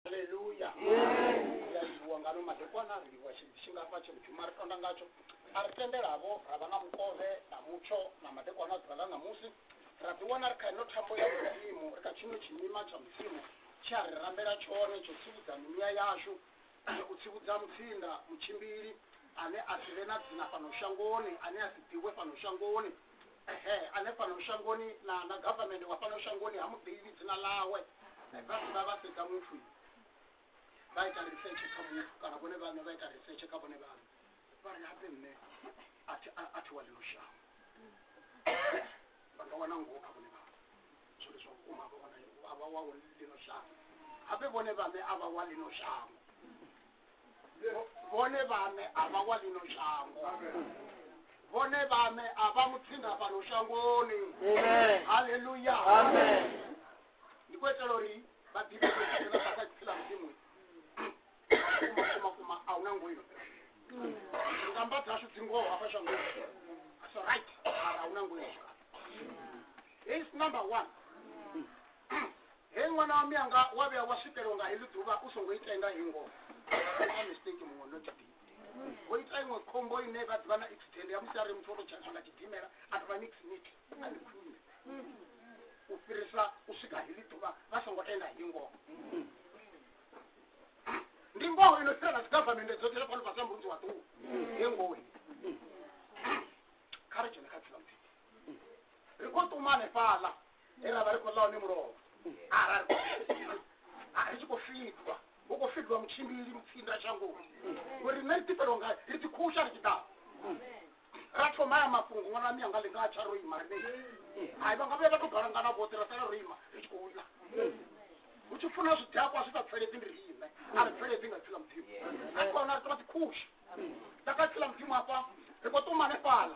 haleluya yaiwa ngano madekwana a ri livhuwa tshidzi tshingafha tshe mudzhuma ri tonda ngatsho a ri tendelavo ra vha na mukovhe na mutsho na madekwana a ḓuvha ḽa ṋamusi ra ḓiwana ri kha ino thambo ya mudzimu ri kha tshino tshimima tsha mudzimu tshi a ri rambela tshone tsho tsivhudza mimuya yashu u tsivhudza mutsinda mutshimbili ane a si vhe na dzina fhano shangoni ane a si ḓivhe fhano shangoni ehe ane fhano shangoni na na government wa fhano shangoni ha muḓivhi dzina ḽawe vhasi vha vha sedza muthu vha ita research kha muthu kana vhone vhaṋe vha ita research kha vhone vhaṋe vha ri hape nṋe a thi wa ḽino shango vha nga wana ngoho kha vhone vhaṋe zwo ndi zwa vhukuma vha wana a vha wa ḽino shango hape vhone vhaṋe a vha wa ḽino shango vhone vhaṋe a vha wa ḽino shango vhone vhaṋe a vha mutsinda fhano shangoni haleluya ndi khou itela uri vha ḓivhe vhasa dzipfi ḽa mudzimu kumakuma a hu na ngoino ngamba dzashu dzi ngoho hafha shangoni so right mara a hu na ngoino hei number one Hee ṅwana wa mianga wa vhuya wa swikelwa nga heḽi ḓuvha u songo ita nga hei ngoho a mistake muṅwe no tshipidi vho ita iṅwe khombo ine vha ḓivha na accident ya musi a ri muthu o to tshentsha nga tshidimela a tovha nix nix a ndi khwine u fhirisa u swika heḽi ḓuvha vha songo tenda hei ngoho ndi ngoho ino fhira na dzi government dzoṱhe zwa fhano fhasi na murunzi wa ṱuwa hei ngoho kha ri dzhene kha dzila muthihi ri khou ṱumane fhaḽa ere a vha ri khou ḽa hone mulovha arali ri tshi khou fidwa hu khou fidwa mutshimbili mutsinda shangoni uri nṋe ri ḓifhelwa nga ri ḓikhusha ri tshi ḓa ra thoma ya mafhungo ṅwana wa mianga ḽi nga tsha ro ima rine hai vha nga vhuya vha tou balangana vhoṱhe ra sala ro ima ri tshi khou ḽa hu tshi funa zwidakwa zwi sa pfeledzi ndi riṋe a ri pfeledzi nga tsila mudzimu a tshi khou hona ri tovha ḓikhusha nda kha tsila mudzimu afha ri khou ṱuma hanefhala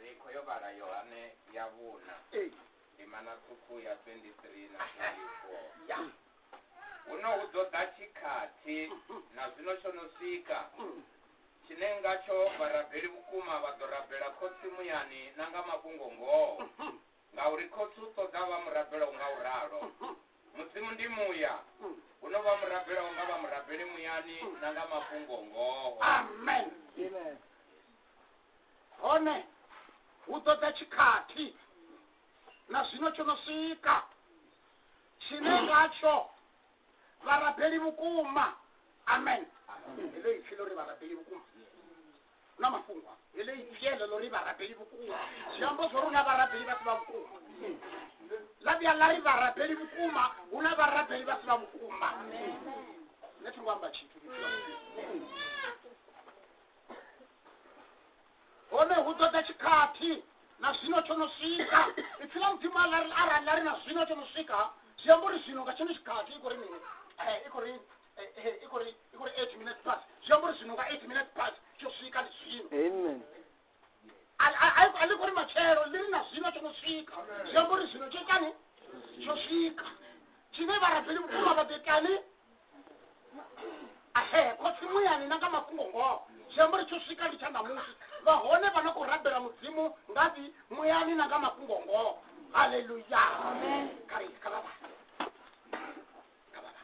Rikho yo vhala Yohane ya vhuna Ee. ndimana ṱhukhu ya 23 na 24 Ya. huno hu ḓo ḓa tshikhathi na zwino tsho no swika tshine ngatsho vharabeli vhukuma vha ḓo rabela khotsi muyani na nga mafhungo ngoho ngauri khotsi u ṱoḓa vha murabelaho nga u ralo mudzimu ndi muya huno vha murabelaho nga vha murabeli muyani na nga mafhungo ngoho Amen. Amen. hone hu ṱoḓa tshikhathi na zwino tsho no swika tshine ngatsho vharabeli vhukuma amen heḽo ipfi ḽo ri vharabeli vhukuma na mafhungo heḽo ipfi eḽo ḽo ri vharabeli vhukuma zwi amba zwo ri na vharabeli vha si vha vhukuma ḽa vhuya ḽa ri vharabeli vhukuma hu na vharabeli vha si vha vhukuma nṋe thi ngo amba tshithu hone hu ṱoḓa tshikhathi na zwino tsho no swika ipfi ḽa mudzimu arali arali ḽa ri na zwino tsho no swika zwi amba uri zwino nga tshino tshikhathi i khou ri mini Eh, i khou ri eh, eh, i khou ri i khou ri eight minutes past zwi amba uri zwino nga eight minutes past tsho swika ndi zwino Amen. Ali- ali- ali- ali khou ri matshelo ḽi ri na zwino tsho no swika zwi amba uri zwino tsho itani tsho swika tshine vharabeli vhukuma vha ḓo itani khotsi muyani na nga mafhungo ngoho zwi amba uri tsho swika ndi tsha ṋamusi vha hone vha no khou rabela mudzimu ngafhi muyani na nga mafhungo ngoho haleluya kharei kha vhavha kha vhavha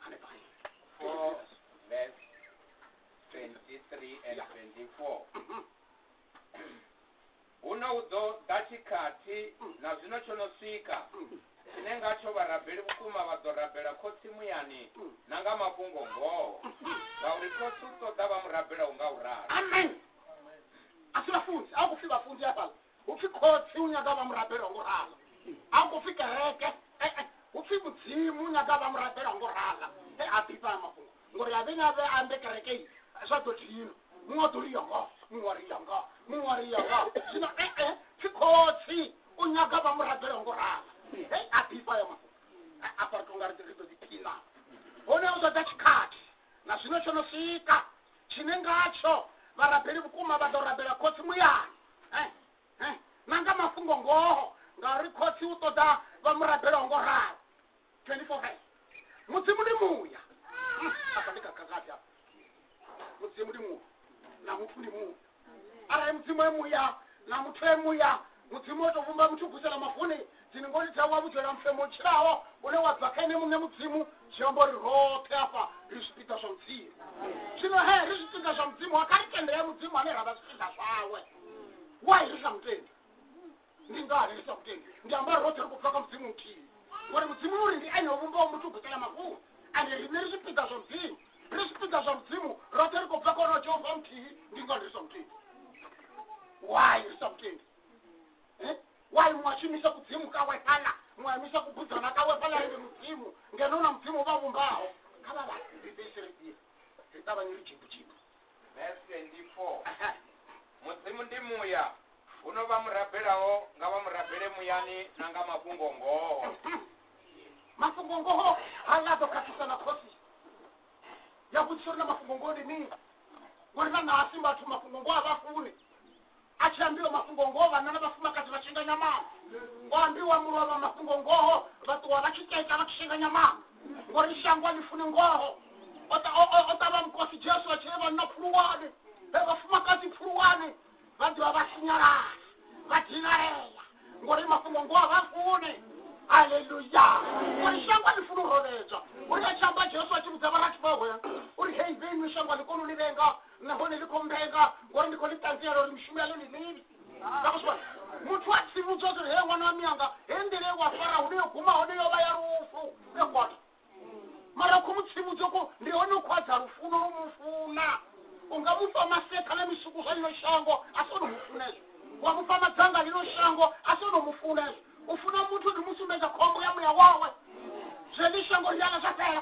hanefha Four, verse 23 and 24. Huno hu ḓo ḓa tshikhathi, na zwino tsho no swika, tshine ngatsho vharabeli vhukuma vha ḓo rabela Khotsi muyani na nga mafhungo-ngoho, ngauri Khotsi u ṱoḓa vha mu rabelaho nga u ralo. Amen. A si vhafunzi, a hu khou pfi vhafunzi hafhaḽa. Hu pfi Khotsi u nyaga vha mu rabelaho nga u ralo. A hu khou pfi kereke, e-e, hu pfi Mudzimu u nyaga vha mu rabelaho nga u ralo. He a ḓifha haya mafhungo. ngori a vhe na vhe ambe kereke i zwa ḓo thino muṅwe ḓo riya nga muṅwe wa riya nga muṅwe wa riya nga zwino ee pfi khotsi u nyaga vha murabela ngo rala hei a ḓifha ya mafhungo afha ri tonga ri ḓo ḓiphina hone u ṱoḓa tshikhathi na zwino tsho no swika tshine ngatsho vharabeli vhukuma vha ḓo rabela khotsi muyani eh, eh, na nga mafhungo ngoho ngauri khotsi u ṱoḓa vha murabela ngo rala 24 hai mudzimu ndi muya Mm, apa ndikakakati apa mudzimu ndi muya na muthu ndi muya arali mudzimu e muya na muthu e muya mudzimu wotovumba muthu gusela mafuni dzini ngoli dzawo wabudzwela mfemo otshiraho une wa bva kha ene muṋe mudzimu zwi amba uri roṱhe afha ri zwipiḓa zwa mudzimu zwino he ri zwipiḓa zwa mudzimu wa kha ri tendele mudzimu ane ra vha zwipiḓa zwawe wai ri sa mutendi ndi ngani ndisakutendi ndi ambari rothe ri khou bva kha mudzimu muthihi ngori mudzimu uri ndi ene o vhumbaho muthu u gutela mafhungo ande riṋe ri zwipiḓa zwa mudzimu ri zwipiḓa zwa mudzimu rothe ri khou bva kha onoyo jehova muthihi ndi ngani ri sa mutendi why ri sa mutendi Eh? why mwashumisa kudzimu kawe phala mwayamisa kubudzana kawe phala ende mudzimu ngeno na mudzimu vha vhumbaho kha vha vha ri ḓisire ḓie ri ṱavhanye ri jimbujimu Verse 24. mudzimu ndi muya huno vha murabelaho nga vha murabele muyani na nga mafhungo ngoho mafhungo ngoho ha nga ḓo khakhisa na khosi ya vhudzisa uri na mafhungo ngoho ndi mini ngori na nasi vhathu mafhungo ngoho a vha funi A tshi ambiwa mafhungo ngoho, vhanna na vhafumakadzi vha shenga nyamana. Ngo ambiwa mulovha mafhungo ngoho, vha ṱuwa vha tshi teta vha tshi shenga nyamana. Ngori shango a ḽi funi ngoho. O ta- o- o- o ṱavha Mukosi Jesu a tshi ri vhanna pfuluwani, vhe vhafumakadzi pfuluwani, vha ḓivha vha sinyalala, vha dinalea, ngori mafhungo ngoho a vha funi. Haleluya! Ngori shango a ḽi funi u rovhedzwa. Uri a tshi amba Jesu a tshi vhudza vharathu vhawe uri, Hei, vhe inwi shango a ḽi koni u ni vhenga, nahone ḽi khou mbenga ngori ndi khou ḽi ṱanziela uri mishumo yaḽo ndi mivhi nakuzwa muthu a tshi vhudzwa uri he ṅwana wa mianga he nḓila ye wa fara hune yo guma hone yo vha ya lufu ya kwata mara u khou mu tsivhudza ko ndi hone u khwadza lufuno lwo mu funa u nga mu fha maseṱha na misuku zwa ḽino shango a si ono mu funezwo wa mu fha madzanga ḽino shango a si ono mu funezwo u funa muthu ndi mu sumbedza khombo ya muya wawe zwe ḽi shango ḽiala zwa fhela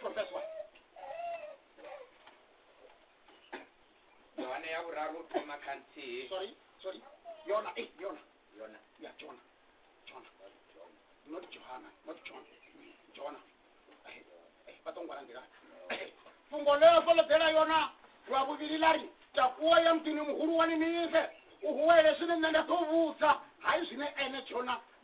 Professor. Yohane ya vhuraru thoma kha nthihi. Sorry, sorry. Yona, eh, Yona. Yona. Ya Jona. Jona. Not Johanna, not John. Jona. Eh, eh, vha tou ngwala nḓila. Eh, Fhungo ḽe a fholodzela Yona lwa vhuvhili ḽa ri takuwa ya muḓini muhulwane Ninive u huwele zwine nṋe nda ḓo vhudza hai zwine ene Jona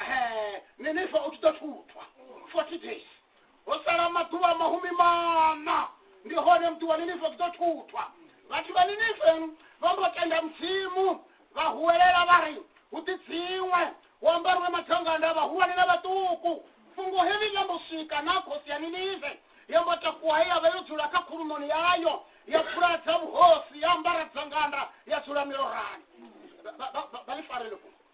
Eh, ni ni fa u tshi ḓo thuthwa 40 days ho sala maḓuvha mahumi mana ndi hone muthu wa ninife u ḓo thuthwa vhathu vha ninife vha mbo tenda mudzimu vha huwelela vha ri hu ḓi dziṅwe hu ambariwe madzanganda vhahulwane na vhaṱuku fhungo heḽi ḽa mbo swika na khosi ya ninive ya mbo takuwa he ya vha yo dzula kha khulumoni yayo ya pfuladza vhuhosi ya ambara dzanganda ya dzula milorani Ba- ba- ba- ba- ba ḽi farele fhungo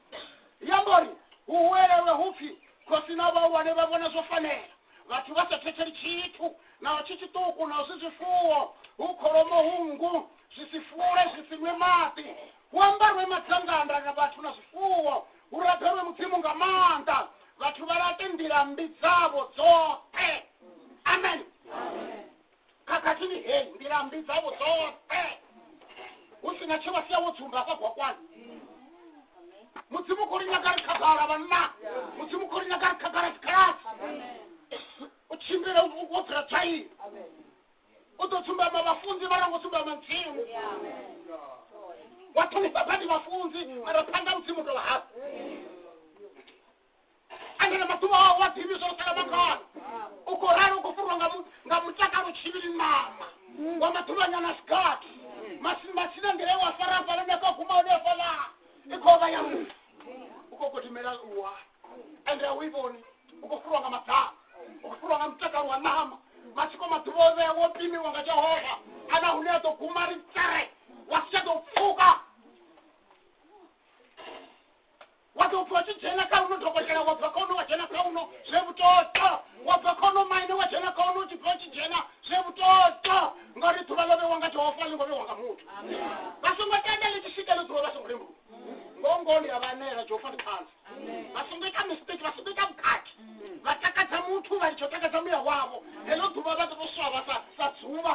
i amba uri hu huwelelwe hupfi khosi na vhahulwane vha vhona zwo fanela vhathu vha sa thetheli tshithu naho tshi tshiṱuku naho zwi zwifuwo hu kholomo hu nngu zwi si fule zwi si nwe maḓi hu ambarwe madzanganda na vhathu na zwifuwo hu rabelwe mudzimu nga maanḓa vhathu vha laṱe nḓila mmbi dzavho dzoṱhe amen khakhathini heyi nḓila mmbi dzavho dzoṱhe hu si na tshe vha sia wo tsumba hafha gwakwani mudzimu khou ri nyaga ri khagala vhanna mudzimu khou ri nyaga ri khagala dzikhaladzi u tshimbile u- wo dzula dzwaini u ḓo tsumbama vhafunzi vha rango tsumbama mudzimu wa ṱhonifha badi vhafunzi mara phanḓa mudzimu tovha hafhu andana maḓuvha awo wa ḓivhi zwo sala mangana u khou rali u khou furwa nga mu- nga mutakalo tshivhili ṋama wa maḓuvhanyana sigathi Masi- masina nḓila ye wa fara hafhala nda ka guma hone hafhala i khou vha ya mufu u khou gidimela luwa ende a u i vhoni u khou furwa nga maḓana u khou furwa nga mutakalo wa ṋama matsiko maḓuvha o vhea wo pimiwa nga jehova ana hune a ḓo guma ri tsere wa si tsha ḓo pfuka wa tou pfha u tshi dzhena kha uno dokotela wa bva kha uno wa dzhena kha uno zwe vhutoto wa bva kha uno maine wa dzhena kha uno u tshi pfha u tshi dzhena zwe vhutoto ngauri ḓuvha ḽo vhewa nga jehova a ḽi ngo vhewa nga muthu vha songo tenda ḽi tshi swika ḽo ḓuvha vha songo lembuluwa ngoho ngoho ndi a vha anela jehova ndi ṱhanzi vha songo ita mistake vha songo ita vhukati vha takadza muthu vha litsho takadza muya wavho heḽo ḓuvha vha ḓo tou swa vha sa sa dzuvha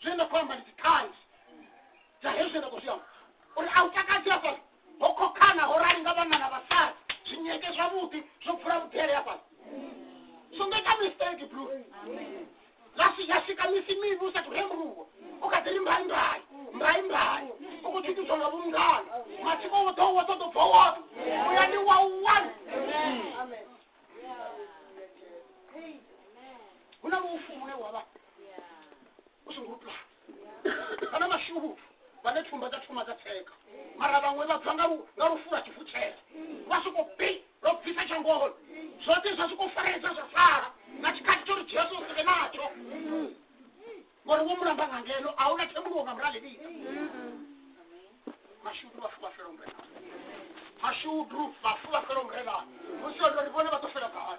zwine nda khou amba ndi dziṱhanzi dza hezwi zwine nda khou zwi amba uri a u takadzi hafhaḽa ho khokhana ho rali nga vhanna na vhasadzi zwinyeke zwavhuḓi zwo bvula vhudele hafhaḽa songo ita mistake blu lasi ya swika misi mivhi u sathu hembuwa u kha ḓi ri mbai mbai mbai mbai u khou tshutshudzwa nga vhungana matsiko wo ḓo wo ḓo ḓo bva woṱhe uya ndi wa one hu na lufu lune wa vha u songo pulana vha na mashuvhu vhane thumba dza thoma dza tsheka mara vhaṅwe vha bva nga lu- nga lufula tshivutshela vha soko bi lwa bvisa tshangoholo zwoṱhe zwa soko faresa zwa sala na tshikhathi tsho ri jesu u sike natsho ngori wo mulamba nga ngeno a huna thembuluwo nga muralelisa mashudu vhafu vha fela umrena mashudu vhafu vha fela umrena musi ori vhone vha ḓo fela gai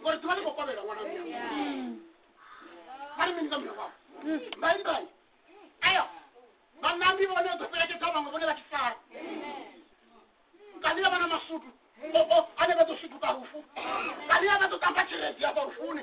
ngori ḓuvha ḽi khou kovhela ṅwana wa muya vha ri mini nga murahu wavho mbai mbai eyo vhanambi vhone ḓo fhelekedza vhaṅwe vhone vha tshi sala kanila vha na masutu oo ane vha ḓo sutuka lufu kanila vha ḓo tamba tshelezi ya vha lufuni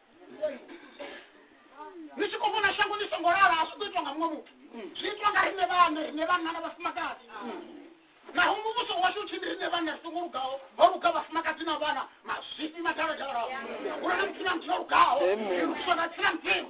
ni tshi khou vhona shango ḽi songo lala a zwi ḓo itwa nga muṅwe muthu zwi itwa nga riṋe vhaṋe riṋe vhanna na vhafumakadzi naho muvhuso washu u tshi ndi riṋe vhanna ri songo lugaho ho luga vhafumakadzi na vhana mazwifhi madaladala hu na muthu na muthu o lugaho ri lugiswa nga tsina mudzimu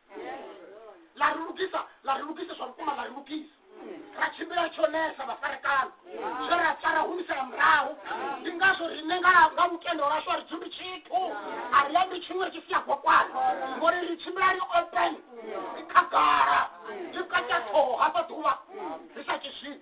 la ri lugisa la ri lugisa zwa vhukuma la ri lugisa ra tshimbila tshonesa vhafarekana zwe ra tsa ra humisela murahu ndi ngazwo rine nga nga lutendo lwashu a ri dzumbi tshithu a ri ambi tshiṅwe ri tshi sia gwakwana ngori ri tshimbila ri open ri khagala ri kata ṱhoho hafha ḓuvha ri sa tshi zwini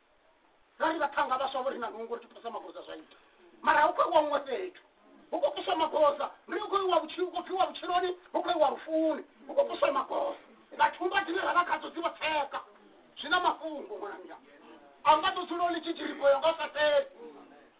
ngari vhathanga vhaswa vho ri na nungo ri tupesa magoza zwa ita mara hu khou iwa huṅwe fhethu hu khou puswa magoza ndi hu khou iwa vhutshilo hu khou pfiwa vhutshiloni hu khou iwa lufuni hu khou puswa magoza nga thumba dzine ra vha khadzo dzi vho tsheka zwi na mafhungo ṅwananga a nga ḓo dzula u ḽi tshitshilipo yo nga u sa fheli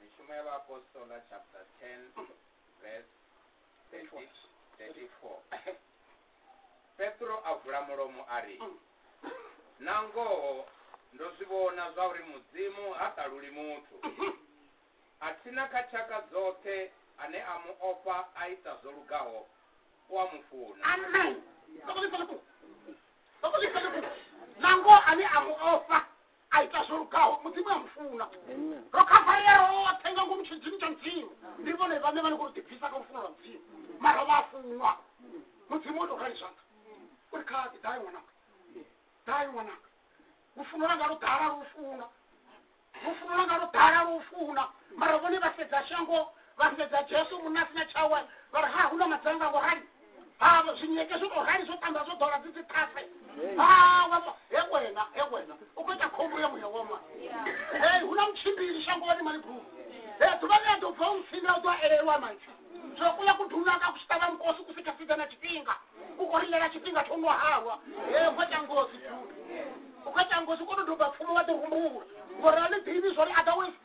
mishumo ya vhaapostola chapter 10 verse 30 34 petro a vula mulomo a ri na ngoho ndo zwi vhona zwa uri mudzimu ha ṱaluli muthu a thina kha tshaka dzoṱhe ane a mu ofha a ita zwo lugaho u a mu funa amen sokolisele ku sokolisele ku nango ane a mu ofha a ita zwo lugaho mudzimu a mufuna ro khavarea roṱhe nga ngomu tshidzini tsha mudzimu ndi vhone vhane vha ni khou ḓibvisa kha lufuno lwa mudzimu mara vha funwa mudzimu o tou rali zwanḓa uri kha ḓai ṅwananga ḓai ṅwananga lufuno langa lu ḓala lu funa lufuno langa lu ḓala lu funa mara vhone vha sedza shango vha sedza jesu munna sina tshawe vha ri ha hu na madzanga ngo rali ha zwinyeke zwo tou rali zwo tamba zwo ḓola dzi dzi ṱhase ha wa fa- he wena he wena u khou ita khombo ya muya woma hei hu na mutshimbili shangoni malibulu he ḓuvha ḽi a ḓo bva u ntsinda u ḓo a elelwa maipfi zwo kuya ku dunaka ku tshi ṱavha mukosi ku si tsha sida na tshifhinga ku khou rilela tshifhinga tsho no halwa he u khou ita ngozi bulu u khou ita ngozi u khou tou doba pfumo wa ḓi rumbula ngori a ḽi ḓivhi zwo ri otherwise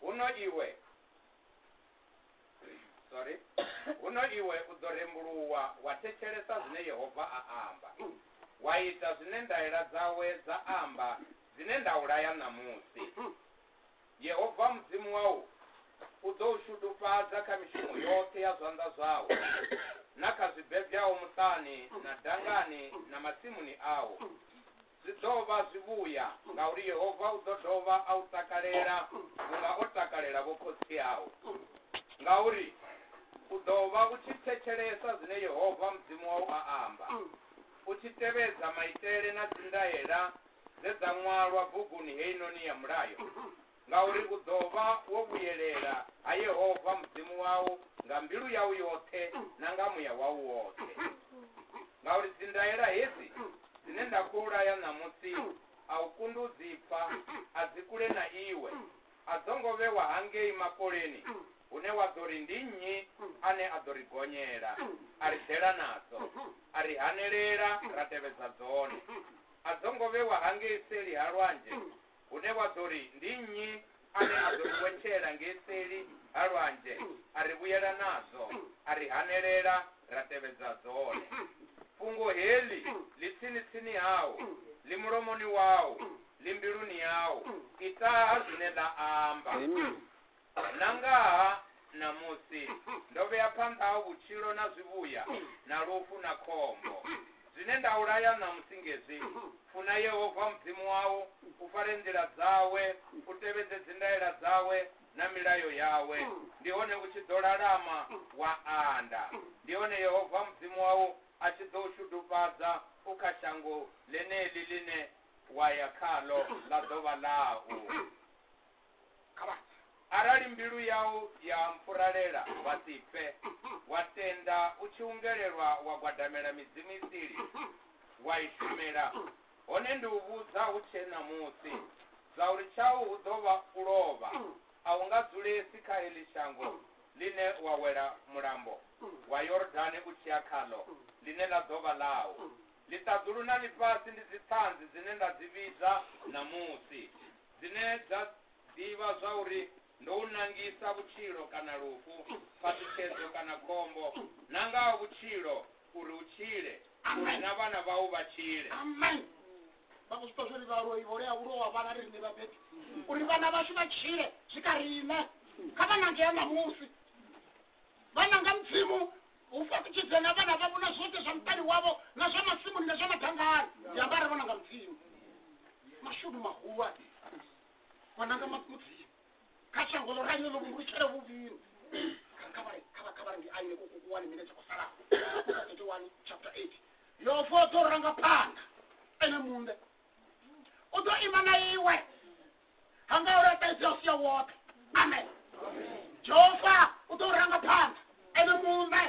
huno iwe sorry huno iwe u ḓo rembuluwa wa thetshelesa zwine yehova a amba wa ita zwine ndaela dzawe dza amba dzine nda u laya ṋamusi yehova mudzimu wau u ḓo u shudufhadza kha mishumo yoṱhe ya zwanḓa zwau na kha zwibebyaho muṱani na dangani na masimuni au Zwi ḓo vha zwivhuya, ngauri Yehova u ḓo dovha a u takalela vhunga o takalela vho khotsi au. Ngauri u ḓo vha u tshi thetshelesa zwine Yehova Mudzimu wau a amba, u tshi tevhedza maitele na dzi ndaela dze dza ṅwalwa buguni heinoni ya Mulayo. ngauri u ḓo vha wo vhuyelela ha Yehova Mudzimu wau nga mbilu yau yoṱhe na nga muya wau woṱhe. Ngauri dzindaela hedzi dzine nda khou laya ṋamusi a u kundi u dzi pfa, a dzi kule na iwe, a dzo ngo vhewa hangei makoleni hune wa ḓo ri ndi nnyi ane a ḓo ri gonyela a ri ḓela nadzo, a ri hanelela ra tevhedza dzone. A dzo ngo vhewa hangei seli ha lwanzhe hune wa ḓo ri ndi nnyi ane a ḓo ri wetshela ngei seli ha lwanzhe a ri vhuyela nadzo a ri hanelela ra tevhedza dzone fhungo heḽi ḽi tsini tsini hau ḽi mulomoni wau ḽi mbiluni yau itaha zwine ḽa amba Amen. na ngaha ṋamusi ndo vhea phanḓa ha vhutshilo na zwivhuya na lufu na khombo. Zwine nda u laya ṋamusi ngezwi, Funa Yehova Mudzimu wau, u fare nḓila dzawe, u tevhedze dzindaela dzawe na milayo yawe, ndi hone u tshi ḓo lalama wa anda. Ndi hone Yehova Mudzimu wau a tshi ḓo u shudufhadza u kha shango ḽeneḽi ḽine wa ya khaḽo ḽa ḓo vha ḽau. arali mbilu yau ya mpfuralela wa si fe wa tenda u tshi ungelelwa wa gwadamela midzimu isili wa i shumela hone ndi u vhudza hu tshe ṋamusi dza uri tshau hu ḓo vha u lovha a u nga dzulesi kha heḽi shango ḽine wa wela mulambo wa yordane u tshi ya khaḽo ḽine ḽa ḓo vha ḽau ḽiṱaḓulu na ḽifhasi ndi dziṱhanzi dzine nda dzi vhidza ṋamusi dzine dza ḓivha zwauri ndo u nangisa vhutshilo kana lufu, phaṱhutshedzo kana khombo, na nga ha vhutshilo uri u tshile, uri na vhana vhau vha tshile. amen vha khou zwi ṱwa zwori vhaloi vho lea ulo wa vhana ri riṋe vhabebi uri vhana vhashu vha tshile zwi kha riṋe kha vha nangea ṋamusi vhana nga mudzimu u fhaṱutshedza na vhana vhavho na zwoṱhe zwa muṱani wavho na zwa masimuni na zwa madangani ndi amba arali vhana nga mudzimu mashudu mahulwane vhana nga ma- mudzimu kha shango ḽo raliyo ḽo vhumbulutshele vhuvhini khavhare ndi aine kukukuwani mine tsha kusalaho 31 chapter 8 yofo o ḓo ranga phanḓa ene muṋe u ḓo ima na iwe ha nga u laṱaedzea u sia woṱhe amen jehova u ḓo ranga phanḓa ene muṋe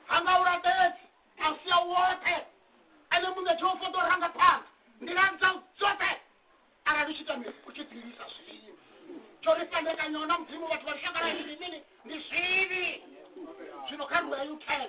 ha nga u laṱaedzi a u sia woṱhe ene muṋe jehova u ḓo ranga phanḓa nḓila dzau dzoṱhe arali u tshi ita mini u tshi ḓilisa zwivhi tsho ri fhandekanya na mudzimu vhathu vha lushaka lwa zwivhini ndi zwivhi zwino kha rueyu ten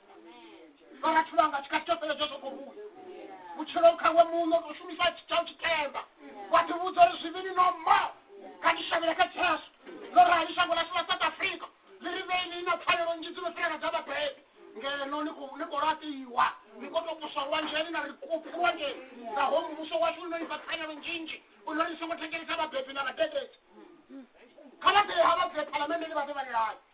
vhathu vhanga tshi kha tshitepele tsho soko vhuya vhutshilo khawe muṋo u shumisa tshitshau tshitemba wa ḓi vhudza uri zwivhili no mo kha ndi shavhela kha jesu ḽo rali shango ḽashu ḽa south africa ḽi ri vheili na pfanelo nnzhi dzi no fhirela dza vhabebi ngeno ni khou ni khou laṱiwa ni khou tou poswa lwanzheni na ri kupfu lwanzheni naho muvhuso washu u no ni fha pfanelo nzhinzhi u no ni songo thengelisa vhabebi na vhadededzi kha vha ḓe ha vha bve phalamenndeni vha ḓe vha ni laye